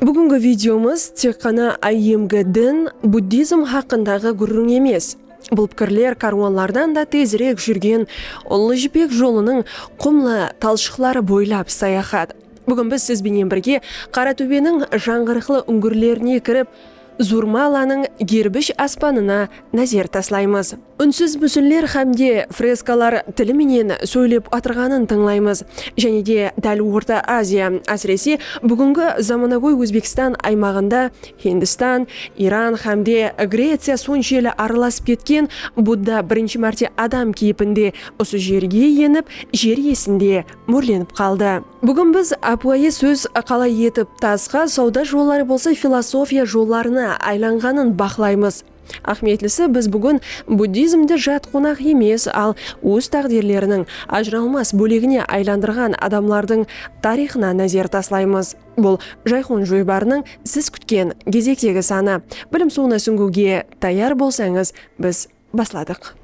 Búgingi videomız tek ǵana IMG din, buddizm haqqındaǵı gúrriń emes. Bul pikirler kárwanlardan da tezirek júrgen Ullı jipek jolınıń qumlı talshıqları boylap sayaxat. Búgin biz siz benen birge Qaratúbeniń jańǵırıqlı úńgirlerine kirip, Zurmalanıń gerbish aspanına názer taslaymız. Únsiz músinler hámde freskalar tili menen sóylep atırǵanın tıńlaymız. Jáne de dál Orta Aziya, ásirese, búgingi zamanagóy Ózbekstan aymaǵında Hindistan, Iran hámde Greciya sonshelli aralasıp ketken Budda birinshi márte adam keypinde usı jerge enip, jer iyesinde mórlenip qaldı. Búgin biz ápiwayı sóz qalay etip tasqa, sawda jolları bolsa filosofiya jollarına aylanǵanın baqlaymız. Áhmiyetlisi, biz búgin buddizmdi jat qonaq emes, al óz táǵdirleriniń ajıralmas bólegine aylandırǵan adamlardıń tariyxına názer taslaymız. Bul Jayxun joybarınıń siz kútken gezektegi sanı. Bilim suwına súńgiwge tayar bolsańız, biz. basladıq.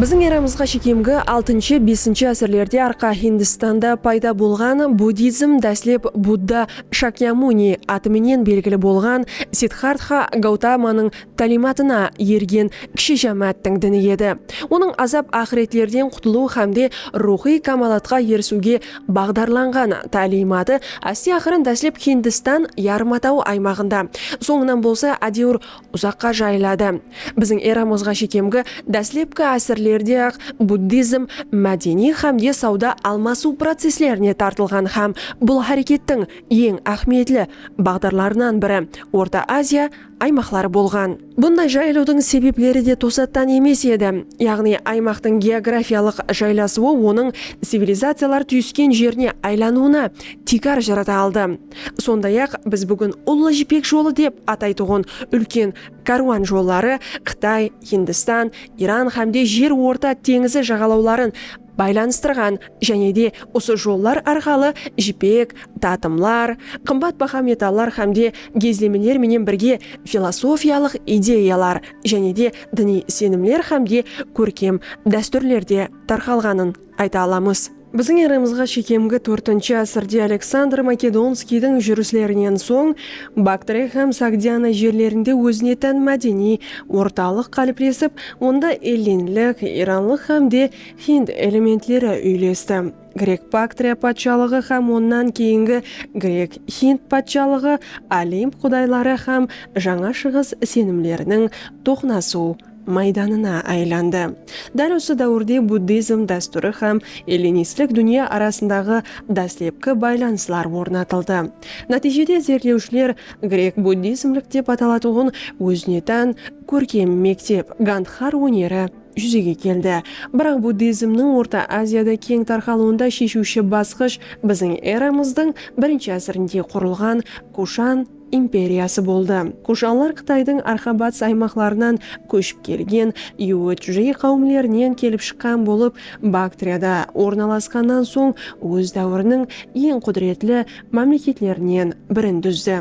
Biziń eramızǵa shekemgi altınshı, besinshi ásirlerde Arqa Hindistanda payda bolǵan buddizm dáslep Budda Shakyamuni atı menen belgili bolǵan Siddxartxa Gautamanıń tálimatına ergen kishi jámááttiń dini edi. Onıń azap aqıretlerden qutılıw hámde ruwxıy kámalatqa erisiwge baǵdarlanǵan tálimatı áste-aqırın dáslep Hindistan yarımatawı aymaǵında, sońınan bolsa ádewir Uzaqqa jayıladı. Biziń eramızǵa shekemgi dáslepki ásirlerde-aq buddizm mádeniy hámde sawda almasıw processlerine tartılǵan hám bul hárekettiń eń áhmiyetli baǵdarlarınan biri Orta Aziya aymaqları bolǵan. Bunday jayılıwdıń sebepleri de tosattan emes edi, yaǵnıy aymaqtıń geografiyalıq jaylasıwı onıń civilizaciyalar túyisken jerine aylanıwına tiykar jarata aldı. Sonday-aq, biz búgin Ullı jipek jolı dep ataytuǵın úlken kárwan jolları Qıtay, Hindistan, Iran hámde Jer orta teńizi jaǵalawların baylanıstırǵan jáne de usı jollar arqalı jipek, tatımlar, qımbat baha metallar hámde gezlemeler menen birge filosofiyalıq ideyalar jáne de diniy isenimler hámde kórkem dástúrler de tarqalǵanın Ayta alamız. Biziń eramızǵa shekemgi tórtinshi ásirde Aleksandr Makedonskiydiń júrislerinen soń Baktriya hám Sogdiana jerlerinde ózine tán mádeniy ortalıq qáliplesip, onda ellinlik, iranlıq hám de hind elementleri úylesti. Grek-Baktriya patshalıǵı hám onnan keyingi Grek-Hind patshalıǵı Olimp qudayları hám Jańa Shıǵıs isenimleriniń toqınasıw, maydanına aylandı. Dál usı dáwirde buddizm dástúri hám ellinistlik dúnya arasındaǵı dáslepki baylanıslar ornatıldı. Nátiyjede izertlewshiler grek-buddizmlik dep atalatuǵın ózine tán kórkem mektep, gandxar óneri júzege keldi. Biraq buddizmniń Orta Aziyada keń tarqalıwında sheshiwshi basqısh biziń eramızdıń birinshi ásirinde qurılǵan Kushan, imperiyası boldı. Kushanlar Qıtaydıń arqa-batıs aymaqlarınan kóship kelgen Yúwétjújé qáwimlerinen kelip shıqqan bolıp, Baktriyada ornalasqannan soń óz dáwiriniń eń qúdiretli mámleketlerinen birin dúzdi.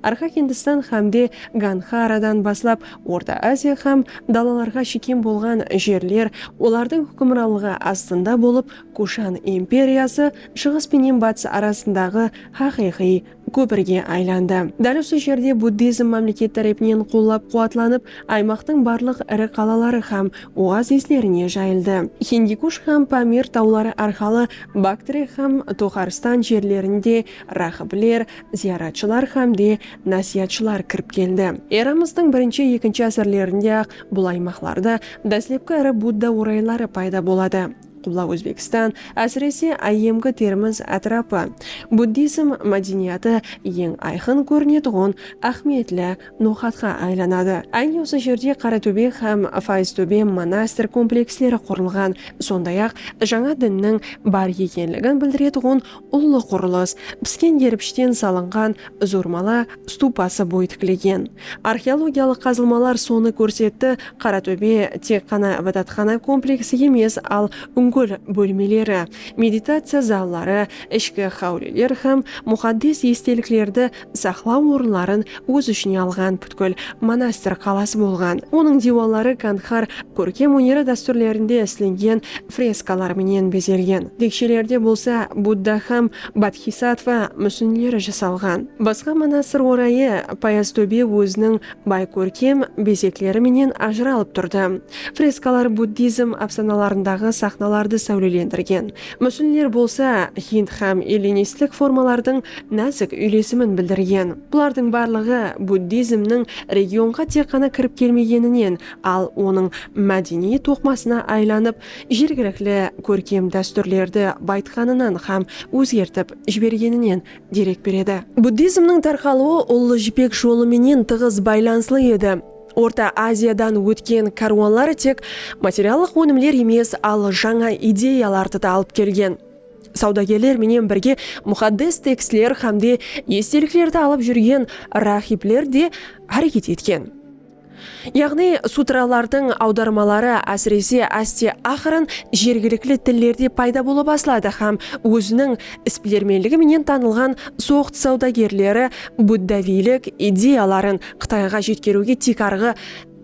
Arqa Hindistan hámde Gandxaradan baslap Orta Aziya hám dalalarǵa shekem bolǵan jerler olardıń húkimranlıǵı astında bolıp, Kushan imperiyası Shıǵıs penen Batıs arasındaǵı haqıyqıy kópirge aylandı. Dál usı jerde buddizm mámleket tárepinen qollap-quwatlanıp, aymaqtıń barlıq iri qalaları hám oazislerine jayıldı. Hindikush hám Pamir tawları arqalı Baktre hám Toxarstan jerlerinde ráhibler, zıyaratshılar hám de násiyatshılar kirip keldi. Eramızdıń birinshi-ekinshi ásirlerinde-aq bul aymaqlarda dáslepki iri Budda orayları payda boladı. Qubla Ózbekstan, ásirese áyyemgi Termiz átirapı, buddizm mádeniyatı eń ayqın kórinetuǵın áhmiyetli noqatqa aylanadı. Áyne usı jerde Qaratóbe hám Fayztóbe monastir kompleksleri qurılǵan, sonday-aq, jańa dinniń bar ekenligin bildiretuǵın Ullı qurılıs, pisken geripishten salınǵan Zurmala stupası boy tiklegen. Arxeologiyalıq qazılmalar sonı kórsetti, Qaratóbe tek ǵana ibadatxana kompleksi emes, al úngil bólmeleri, meditaciya zalları, ishki háwliler hám muxaddes esteliklerdi saqlaw orınların óz ishine alǵan pútkil monastir qalası bolǵan. Onıń diywalları Gandxar kórkem óneri dástúrlerinde islengen freskalar menen bezelgen. Tekshelerde bolsa Budda hám Bodxisattva músinleri jasalǵan. Basqa monastir orayı Payaztóbe óziniń bay kórkem bezekleri menen ajıralıp turdı. Freskalar buddizm ápsanalarındaǵı saxnalardı sáwlelendirgen. Músinler bolsa hind hám ellinistlik formalardıń názik úylesimin bildirgen. Bulardıń barlıǵı buddizmniń regionǵa tek ǵana kirip kelmegeninen, al onıń mádeniy toqmasına aylanıp, jergilikli kórkem dástúrlerdi bayıtqanınan hám ózgertip jibergeninen derek beredi. Buddizmniń tarqalıwı Ullı jipek jolı menen tıǵız baylanıslı edi. Orta Aziyadan ótken kárwanlar tek materiallıq ónimler emes, al jańa ideyalardı da alıp kelgen. Sawdagerler menen birge muxaddes tekstler hámde esteliklerdi alıp júrgen ráhibler de háreket etken. Yaǵnıy sutralardıń awdarmaları ásirese áste-aqırın jergilikli tillerde payda bola basladı hám óziniń isbilermenligi menen tanılǵan soqd sawdagerleri buddaviylik ideyaların Qıtayǵa jetkeriwge tiykarǵı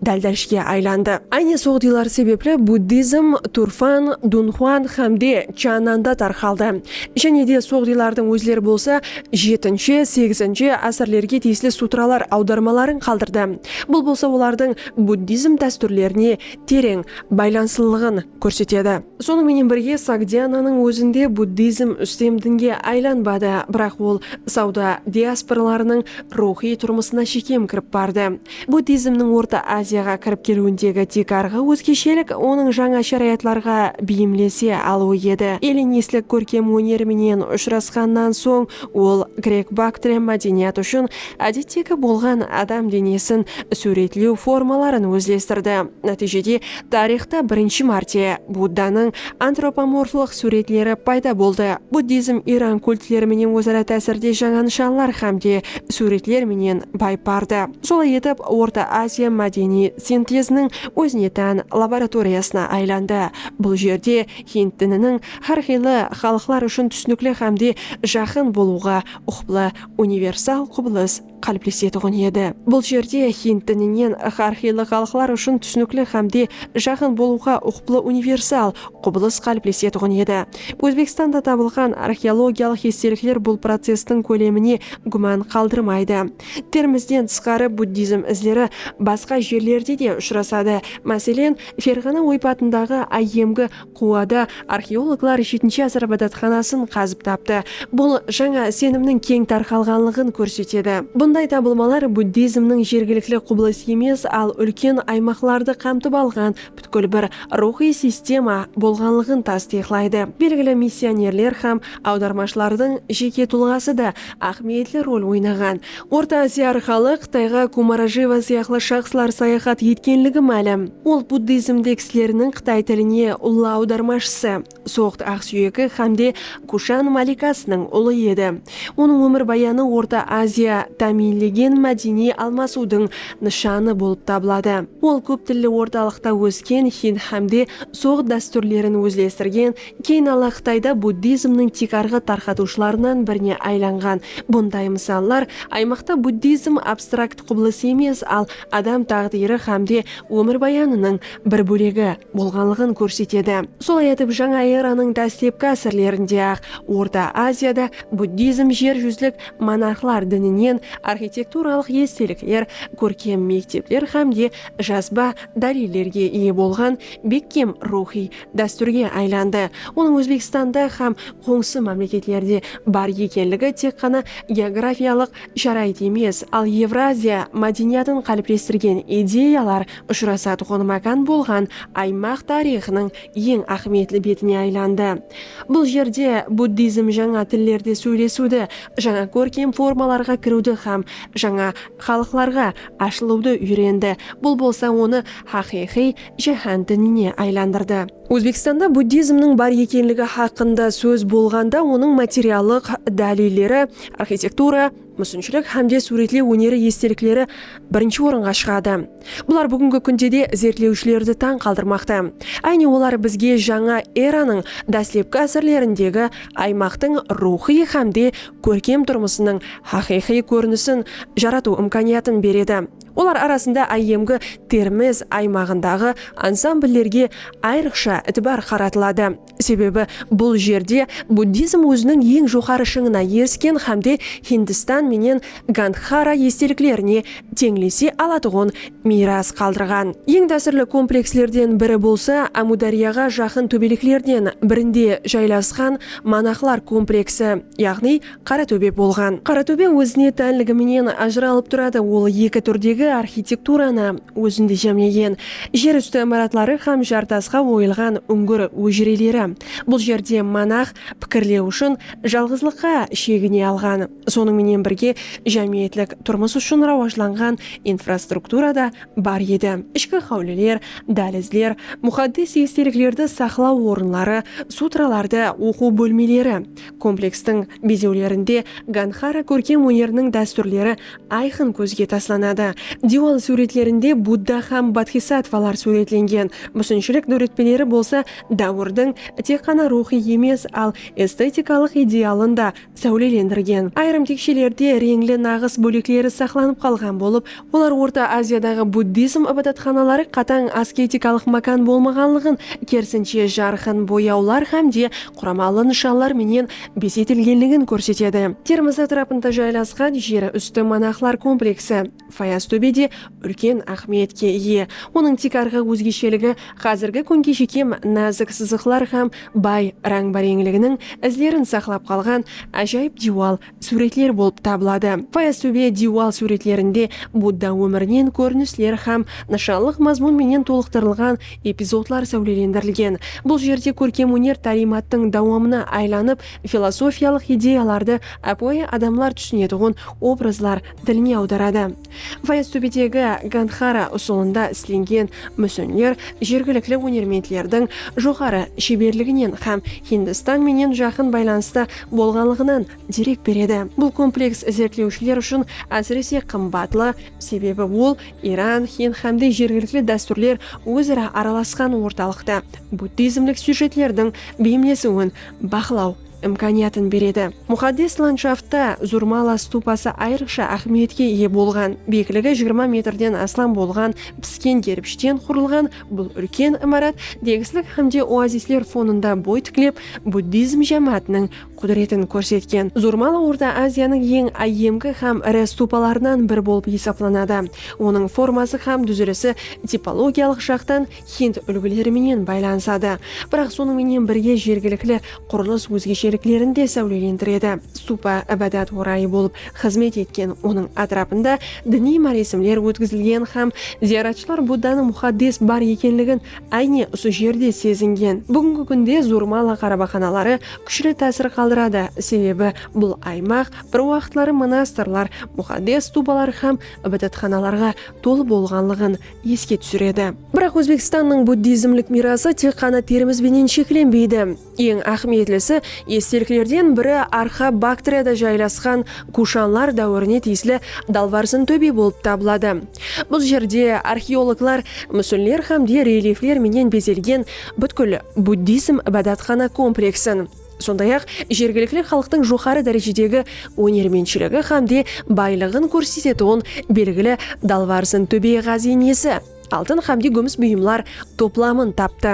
dáldashge aylandı. Áyne sol diylar sebepli buddizm Turfan, Dunhuan hám de Chjananda tarqaldı. Jáne de sol diylardıń ózleri bolsa jetinshi, segizinshi ásirlerge tiyisli sutralar awdarmaların qaldırdı. Bul bolsa olardıń buddizm dástúrlerine tereń baylanıslılıǵın. kórsetedi. Sonıń menen birge, Sogdiananıń ózinde buddizm ústem dinge aylanbadı, biraq ol sawda diasporalarınıń ruwxıy turmısına shekem kirip bardı. Buddizmniń Orta Aziyaǵa kirip keliwindegi tiykarǵı ózgeshelik onıń jańa sharayatlarǵa beyimlese alıwı edi. Ellinistik kórkem óner menen ushırasqannan soń, ol grek-baktriya mádeniyat ushın ádettegi bolǵan adam denesin súwretlew formaların ózlestirdi. Nátiyjede, Tariyxta birinshi márte Buddanıń antropomorflıq súwretleri payda boldı. Buddizm Iran kultleri menen óz-ara tásirde jańa nıshanlar hám de súwretler menen bayıp bardı. Solay etip, Orta Aziya mádeniy sinteziniń ózine tán laboratoriyasına aylandı. Bul jerde hind dininiń hár qıylı xalıqlar ushın túsinikli hám de jaqın bolıwǵa uqıplı universal qubılıs qáliplesetiǵın edi. Bul jerde hind dininen hár qıylı xalıqlar ushın túsinikli hámde jaqın bolıwǵa uqıplı universal qubılıs qáliplesetiǵın edi. Ózbekstanda tabılǵan arxeologiyalıq estelikler bul processtiń kólemine gúman qaldırmaydı. Terimizden tısqarı buddizm izleri basqa jerlerde de ushırasadı, máselen, Ferǵana oypatındaǵı áyyemgi Quwada arxeologlar jetinshi asır ibadatxanasın qazıp taptı. Bul jańa isenimniń keń tarqalǵanlıǵın kórsetedi. Bunday tabılmalar buddizmniń jergilikli qubılıs emes, al úlken aymaqlardı qamtıp alǵan pútkil bir ruwxıy sistema bolǵanlıǵın tastıyıqlaydı. Belgili missionerler hám awdarmashılardıń jeke tulǵası da áhmiyetli rol oynaǵan. Orta Aziya arqalı Qıtayǵa Kumarajeva sıyaqlı shaxslar sayaxat etkenligi málim. Ol buddizmde kisleriniń qıtay tiline ullı awdarmashısı, soqt aqsúyeki hámde Kushan malikasınıń ulı edi. Onıń ómirbayanı Orta Aziya támiyinlegen mádeniy almasıwdıń nıshanı bolıp tabıladı. Ol kóp tilli ortalıqta ósken hind hámde soqt dástúrlerin ózlestirgen Keyin Alla Qıtayda buddizmniń tiykarǵı tarqatıwshılarınan birine aylanǵan. Bunday mısallar aymaqta buddizm abstrakt qubılıs emes, al adam táǵdiyri hámde ómirbayanınıń bir bólegi bolǵanlıǵın kórsetedi. Solay etip, Jańa eranıń dáslepki ásirlerinde-aq Orta Aziyada buddizm jer júzlik monarxlar dininen arxitekturalıq estelikler, kórkem mektepler hámde jazba dálillerge iye bolǵan bekkem ruwxıy dástúrge aylandı. Onıń Ózbekstanda hám qońsı mámleketlerde bar ekenligi tek ǵana geografiyalıq sharayıt emes, al Evraziya mádeniyatın qáliplestirgen ideyalar ushırasatuǵın mákan bolǵan aymaq tariyxınıń eń áhmiyetli betine aylandı. Bul jerde buddizm jańa tillerde sóylesiwdi, jańa kórkem formalarǵa kiriwdi hám jańa xalıqlarǵa ashılıwdı úyrendi, bul bolsa onı haqıyqıy jáhán dinine aylandırdı. Ózbekstanda buddizmniń bar ekenligi haqqında sóz bolǵanda onıń materiallıq dálilleri, arxitektura, músinshilik hámde súwretlew óneri estelikleri birinshi orınǵa shıǵadı. Bular búgingi kúnde de izertlewshilerdi tań qaldırmaqta. Áyne olar bizge jańa eranıń dáslepki ásirlerindegi aymaqtıń ruwxıy hámde kórkem turmısınıń haqıyqıy kórinisin jaratıw imkaniyatın beredi. Olar arasında áyyemgi Termiz aymaǵındaǵı ansambllerge ayrıqsha itibar qaratıladı, sebebi bul jerde buddizm óziniń eń joqarı shıńına erisken hámde Hindistan menen Gandxara esteliklerine teńlese alatuǵın miyras qaldırǵan. Eń tásirli komplekslerden biri bolsa Ámúdáryaǵa jaqın tóbeleklerden birinde jaylasqan monahlar kompleksi, yaǵnıy Qaratóbe bolǵan. Qaratóbe ózine tánligi menen ajıralıp turadı, ol eki túrdegi arxitekturanı ózinde jámlegen, jer ústi imaratları hám jartasqa oyılǵan úńgir ójreleri. Bul jerde monax pikirlew ushın jalǵızlıqqa shegine alǵan, sonıń menen birge jámiyetlik turmıs ushın rawajlanǵan infrastruktura da bar edi, ishki háwliler, dálizler, muxaddes esteliklerdi saqlaw orınları, sutralardı oqıw bólmeleri, Komplekstiń bezewlerinde Gandxara kórkem óneriniń dástúrleri ayqın kózge taslanadı. Diywal súwretlerinde Budda hám bodxisattvalar súwretlengen, músinshilik dóretpeleri bolsa dáwirdiń tek ǵana ruwxıy emes, al estetikalıq idealın da sáwlelendirgen. Ayırım tekshelerde reńli naǵıs bólekleri saqlanıp qalǵan bolıp, Olar Orta Aziyadaǵı buddizm ibadatxanaları qatań asketikalıq mákan bolmaǵanlıǵın, kerisinshe, jarqın boyawlar hám de quramalı nıshanlar menen bezetilgenligin kórsetedi. Termiz átirapında jaylasqan jer ústi monahlar kompleksi Fayaztóbe de úlken áhmiyetke iye. Onıń tiykarǵı ózgesheligi házirgi kúnge shekem názik sızıqlar hám bay ráń-báreńliginiń izlerin saqlap qalǵan ájayıp diywal súwretler bolıp tabıladı. Fayaztóbe diywal súwretlerinde Budda ómirinen kórinisler hám nıshallıq mazmun menen tolıqtırılǵan epizodlar sáwlelendirilgen. Bul jerde kórkem-óner tálimattıń dawamına aylanıp, filosofiyalıq ideyalardı ápiwayı adamlar túsinetuǵın obrazlar diline awdaradı. Fayaztóbedegi Gandxara usılında islengen músinler jergilikli ónermentlerdiń joqarı sheberliginen hám Hindistan menen jaqın baylanısta bolǵanlıǵınan derek beredi. Bul kompleks izertlewshiler ushın ásirese qımbatlı, sebebi ol Iran, Hind hámde jergilikli dástúrler óz-ara aralasqan ortalıqta buddizmlik syujetlerdiń beyimlesiwin baqlaw, imkaniyatın beredi. Muxaddes landshaftda Zurmala stupası ayrıqsha áhmiyetke iye bolǵan. Biyikligi jigirma metrden aslam bolǵan pisken gerpishten qurılǵan bul úlken imarat degislik hámde oazisler fonında boy tiklep, buddizm jámáátiniń qúdiretin kórsetken. Zurmala Orta Aziyanıń eń áyyemgi hám iri stupalarınan biri bolıp esaplanadı. Onıń forması hám dúzilisi tipologiyalıq jaqtan hind úlgileri menen baylanısadı. Biraq sonıń menen birge jergilikli qurılıs ózgesheliklerin de sáwlelendiredi. Stupa ibadat orayı bolıp xızmet etken, onıń átirapında diniy máresimler ótkizilgen hám zıyaratshılar Buddanıń muxaddes bar ekenligin áyne usı jerde sezingen. Búgingi kúnde Zurmala qarabaqanaları kúshli tásir qaldıradı, sebebi bul aymaq bir waqıtları monastırlar, muxaddes stupalar hám ibadatxanalarǵa tolı bolǵanlıǵın eske túsiredi. Biraq Ózbekstannıń buddizmlik miyrası tek ǵana terimiz benen sheklenbeydi. Eń áhmiyetlisi, esteliklerden biri Arxa Baktriyada jaylasqan Kushanlar dáwirine tiyisli Dalvarsin tóbe bolıp tabıladı. Bul jerde arxeologlar músinler hám de relifler menen bezelgen pútkil buddizm ibadatxana kompleksin, sonday-aq, jergilikli xalıqtıń joqarı dárejedegi ónermentshiligi hámde baylıǵın kórsetetuǵın belgili Dalbarzın tóbe ǵáziyinesi, altın hámde gúmis buyımlar toplamın taptı.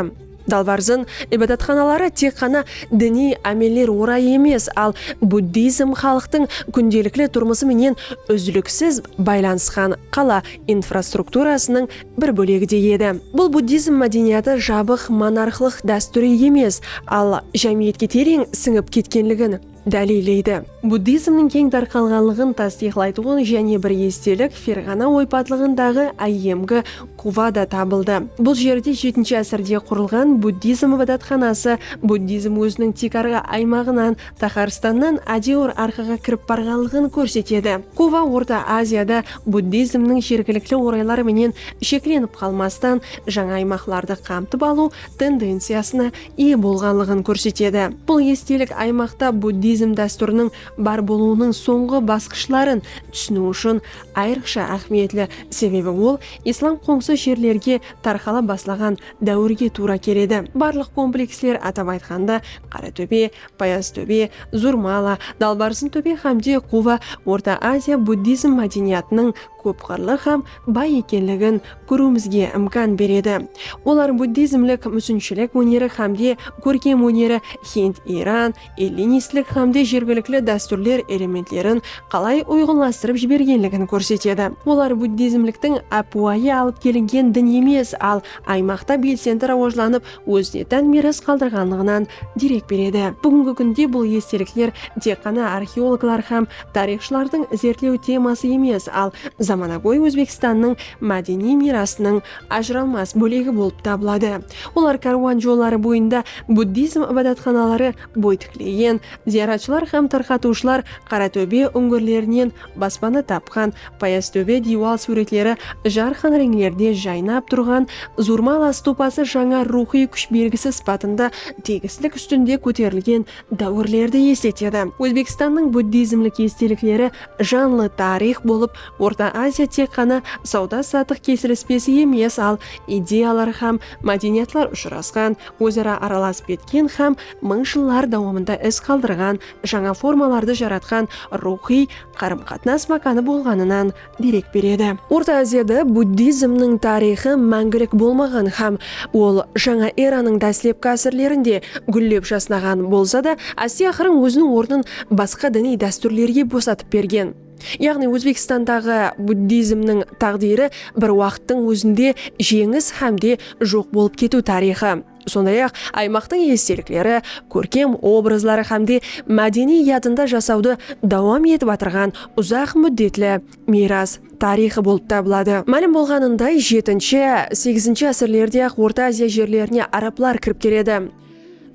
Dalbarzın ibadatxanaları tek ǵana diniy ámeller orayı emes, al buddizm xalıqtıń kúndelikli turmısı menen úzliksiz baylanısqan qala infrastrukturasınıń bir bólegi de edi. Bul buddizm mádeniyatı jabıq monarxlıq dástúri emes, al jámiyetke tereń sińip ketkenligin dáliylleydi. Buddizmniń keń tarqalǵanlıǵın tastıyıqlaytuǵın jáne bir estelik Ferǵana oypatlıǵındaǵı áyyemgi Guvada tabıldı. Bul jerde jetinshi ásirde qurılǵan buddizm ibadatxanası buddizm óziniń tiykarǵı aymaǵınan Taxarstannan ájewir arqaǵa kirip barǵanlıǵın kórsetedi. Kuba Orta Aziyada buddizmniń jergilikli oraylar menen sheklenip qalmastan jańa aymaqlardı qamtıp alıw tendenciyasına iye bolǵanlıǵın kórsetedi. Bul estelik aymaqta buddizm dástúriniń bar bolıwınıń sońǵı basqıshların túsiniw ushın ayrıqsha áhmiyetli, sebebi ol islam qońsı jerlerge tarqala baslaǵan dáwirge tuwra keledi. Barlıq kompleksler, atap aytqanda, Qaratóbe, Payaztóbe, Zurmala, Dalbarzıntóbe hám de Quva Orta Aziya buddizm mádeniyatınıń kóp qırlı hám bay ekenligin kóriwimizge imkan beredi. Olar buddizmlik músinshilik óneri hám de kórkem óneri, hind, iran, ellinistlik hám de jergilikli dástúrler elementlerin qalay uyǵınlastırıp jibergenligin kórsetedi. Olar buddizmliktiń ápiwayı alıp kelingen din emes, al aymaqta belsendi rawajlanıp ózine tán miyras qaldırǵanlıǵınan derek beredi. Búgingi kúnde bul estelikler tek ǵana arxeologlar hám tariyxshılardıń izertlew teması emes, al zamanagóy Ózbekstannıń mádeniy miyrasınıń ajıralmas bólegi bolıp tabıladı. Olar kárwan jolları boyında buddizm ibadatxanaları boy tiklegen, zıyaratshılar hám tarqatıwshılar Qaratóbe úńgirlerinen Baspana tapqan payaz tóbe diywal súwretleri jarqın reńlerde jaynap turǵan Zurmal astupası jańa ruwxıy kúsh belgisi sıpatında tegislik ústinde kóterilgen dáwirlerdi esletedi. Ózbekstannıń buddizmlik estelikleri janlı tariyx bolıp, Orta Aziya tek ǵana sawda-satıq kesilispesi emes, al ideyalar hám mádeniyatlar ushırasqan, óz-ara aralasıp ketken hám mıń jıllar dawamında iz qaldırǵan jańa formalardı jaratqan ruwxıy qarım-qatnas mákanı bolǵanınan derek beredi. Orta Aziyada buddizmniń tariyxı máńgilik bolmaǵan hám ol Jańa eranıń dáslepki ásirlerinde gúllep jasnaǵan bolsa da, áste-aqırıń óziniń ornın basqa diniy dástúrlerge bosatıp bergen. Yaǵnıy Ózbekstandaǵı buddizmniń táǵdiri bir waqıttıń ózinde jeńis hám de joq bolıp ketiw tariyxı. Sonday-aq, aymaqtıń estelikleri, kórkem obrazları hámde mádeniy yadında jasawdı dawam etip atırǵan uzaq múddetli miyras tariyxı bolıp tabıladı. Málim bolǵanınday, jetinshi, segizinshi ásirlerde-aq Orta Aziya jerlerine arablar kirip keledi.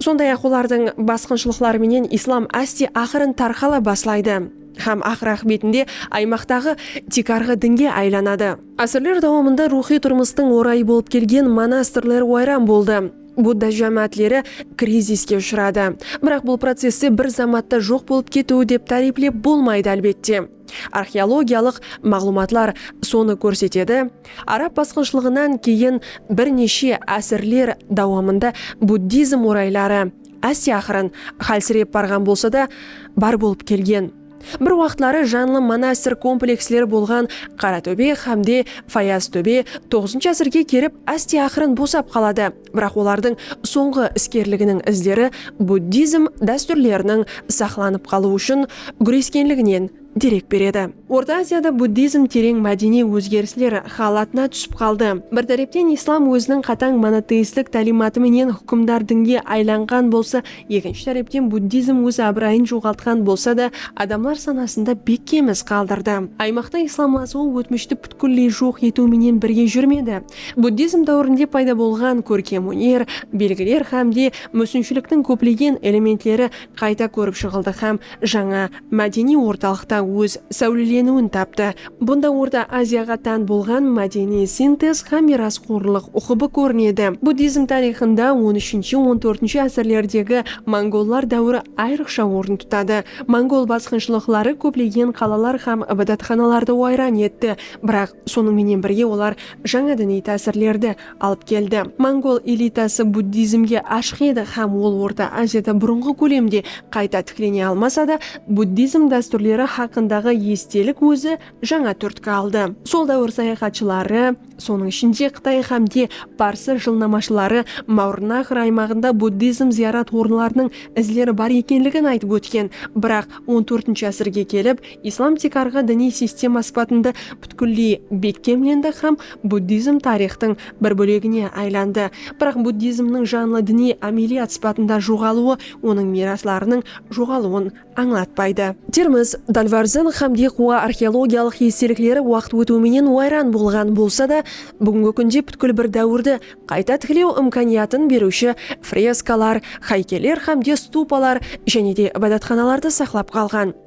Sonday-aq, olardıń basqınshılıqları menen islam áste aqırın tarqala baslaydı hám aqır-aqıbetinde aymaqtaǵı tiykarǵı dinge aylanadı. Ásirler dawamında ruwxıy turmıstıń orayı bolıp kelgen monastirler wayran boldı, Budda jámáátleri kriziske ushıradı. Biraq bul processte bir zamatta joq bolıp ketiw dep táriyplep bolmaydı, álbette. Arxeologiyalıq maǵlıwmatlar sonı kórsetedi, arab basqınshılıǵınan keyin bir neshe ásirler dawamında buddizm orayları áste aqırın hálsirep barǵan bolsa da, bar bolıp kelgen. Bir waqıtları janlı monastir kompleksleri bolǵan Qaratóbe xámde Fayaztóbe toǵızınshı ásirge kelip áste-aqırın bosap qaladı, biraq olardıń sońǵı iskerliginiń izleri buddizm dástúrleriniń saqlanıp qalıw ushın gúreskenliginen derek beredi. Orta Aziyada buddizm tereń mádeniy ózgerisler xálatına túsip qaldı. Bir tárepten islam óziniń qatań monoteistlik tálimatı menen húkimdar dinge aylanǵan bolsa Ekinshi tárepten buddizm óz abırayın joǵaltqan bolsa da, adamlar sanasında bekkem iz qaldırdı. Aymaqta islamlasıwı ótmishti pútkilley joq etiw menen birge júrmedi. Buddizm dáwirinde payda bolǵan kórkem óner, belgiler hám de músinshiliktiń kóplegen elementleri qayta kórip shıǵıldı hám jańa mádeniy ortalıqta óz sáwleleniwin taptı. Bunda Orta Aziyaǵa tán bolǵan mádeniy sintez hám miyrasxorlıq uqıbı kórinedi. Buddizm tariyxında on úshinshi-on tórtinshi ásirlerdegi mongollar dáwiri ayrıqsha orın tutadı. Mongol basqınshılıqları kóplegen qalalar hám ibadatxanalardı wayran etti, biraq, Sonıń menen birge olar jańa diniy tásirlerdi alıp keldi. Mongol elitası buddizmge ashıq edi hám ol Orta Aziyada burınǵı kólemde qayta tiklene almasa da, buddizm dástúrleri haqqındaǵı estelik ózi jańa túrtki aldı. Sol dáwir sayaxatshıları, sonıń ishinde Qıtay hám de parsı jılnamashıları Maurnaxr aymaǵında buddizm zıyarat orınlarınıń izleri bar ekenligin aytıp ótken, biraq on tórtinshi ásirge kelip, Islam tiykarǵı diniy sistema sıpatında pútkilley bekkemlendi hám buddizm tariyxtıń bir bólegine aylandı. Biraq buddizmniń janlı diniy ámeliyat sıpatında joǵalıwı onıń miyraslarınıń joǵalıwın ańlatpaydı. Termiz, Dalvarzen hám Dixua arxeologiyalıq estelikleri waqıt ótiw menen wayran bolǵan bolsa da, búgingi kúnde pútkil bir dáwirdi qayta tiklew imkaniyatın beriwshi freskalar, haykeller hám de stupalar jáne de ibadatxanalardı saqlap qalǵan.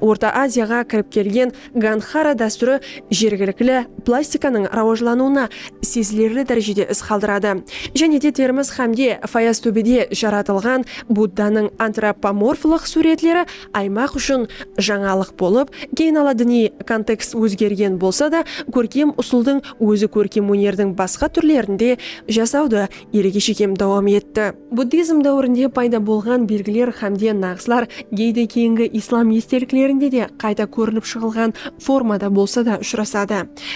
Orta Aziyaǵa kirip kelgen Ganxara dástúri jergilikli plastikanıń rawajlanıwına sezilerli dárejede iz qaldıradı. Jáne de Termiz hámde Fayaztóbede jaratılǵan Buddanıń antropomorflıq súwretleri aymaq ushın jańalıq bolıp, keyin ala diniy kontekst ózgergen bolsa da, kórkem usıldıń ózi kórkem ónerdiń basqa túrlerinde jasawdı elge shekem dawam etti. Buddizm dáwirinde payda bolǵan belgiler hámde naǵıslar geyde keyingi islam esteliklerinde de qayta kórinip shıǵılǵan formada bolsa da ushırasadı.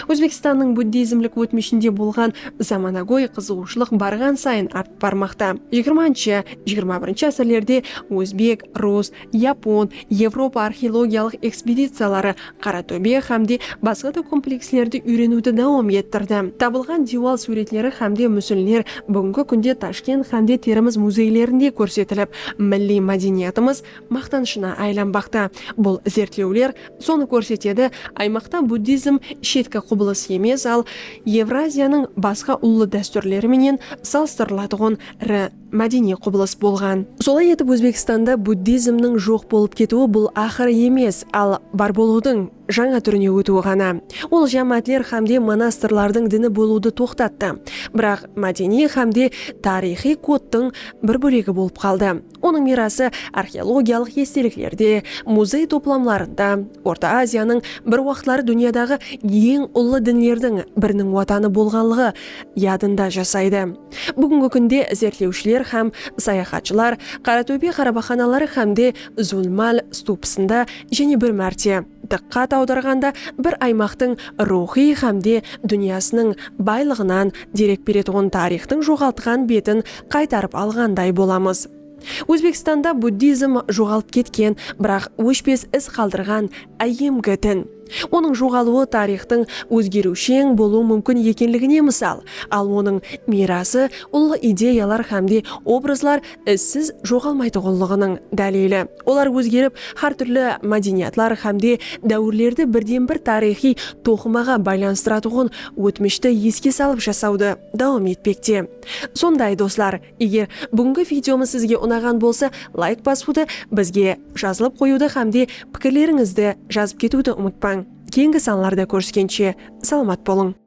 Ózbekstannıń buddizmlik ótmishinde bolǵan zamanagóy qızıǵıwshılıq barǵan sayın artıp barmaqta. Jigirmanshı, jigirma birinshi ásirlerde ózbek, rus, yapon, evropa arxeologiyalıq ekspediciyaları Qara tóbe hám de basqa da komplekslerdi úyreniwdi dawam ettirdi. Tabılǵan diywal súwretleri hám de músinler búgingi kúnde Tashkent hám de Termiz muzeylerinde kórsetilip, milliy mádeniyatımız maqtanıshına aylanbaqta. Bul izertlewler sonı kórsetedi, aymaqta buddizm shetki qubılıs emes, al Evraziyanıń basqa ullı dástúrleri menen salıstırılatuǵın ri. mádeniy qubılıs bolǵan. Solay etip Ózbekstanda buddizmniń joq bolıp ketiwi bul aqır emes, al bar bolıwdıń jańa túrine ótiwi ǵana. Ol jámáátler xámde monastırlardıń dini bolıwdı toqtattı, biraq mádeniy xámde tariyxıy kodtıń bir bólegi bolıp qaldı. Onıń miyrası arxeologiyalıq esteliklerde, muzey toplamlarında, Orta Aziyanıń bir waqıtları dúnyadaǵı eń ullı dinlerdiń biriniń watanı bolǵanlıǵı yadında jasaydı. Búgingi kúnde izertlewshiler hám sayaxatshılar Qaratóbe qarabaqanaları hámde Zulmal stupısında jáne bir márte dıqqat awdarǵanda bir aymaqtıń ruwxıy hámde dúnyasınıń baylıǵınan derek beretuǵın tariyxtıń joǵaltqan betin qaytarıp alǵanday bolamız. Ózbekstanda buddizm joǵalıp ketken, biraq óshpes iz qaldırǵan áyyemgi din. Onıń joǵalıwı tariyxtıń ózgeriwsheń bolıwı múmkin ekenligine mısal, al onıń miyrası, ullı ideyalar hámde obrazlar izsiz joǵalmaytuǵınlıǵınıń dálili. Olar ózgerip, hár túrli mádeniyatlar hámde dáwirlerdi birden-bir tariyxıy toqımaǵa baylanıstıratuǵın ótmishti eske salıp jasawdı dawam etpekte. Sonday, doslar! Eger búgingi videomız sizge unaǵan bolsa, layk basıwdı, bizge jazılıp qoyıwdı hámde pikirlerińizdi jazıp ketiwdi umıtpań. Keyingi sanlarda kóriskenshe, salamat bolıń!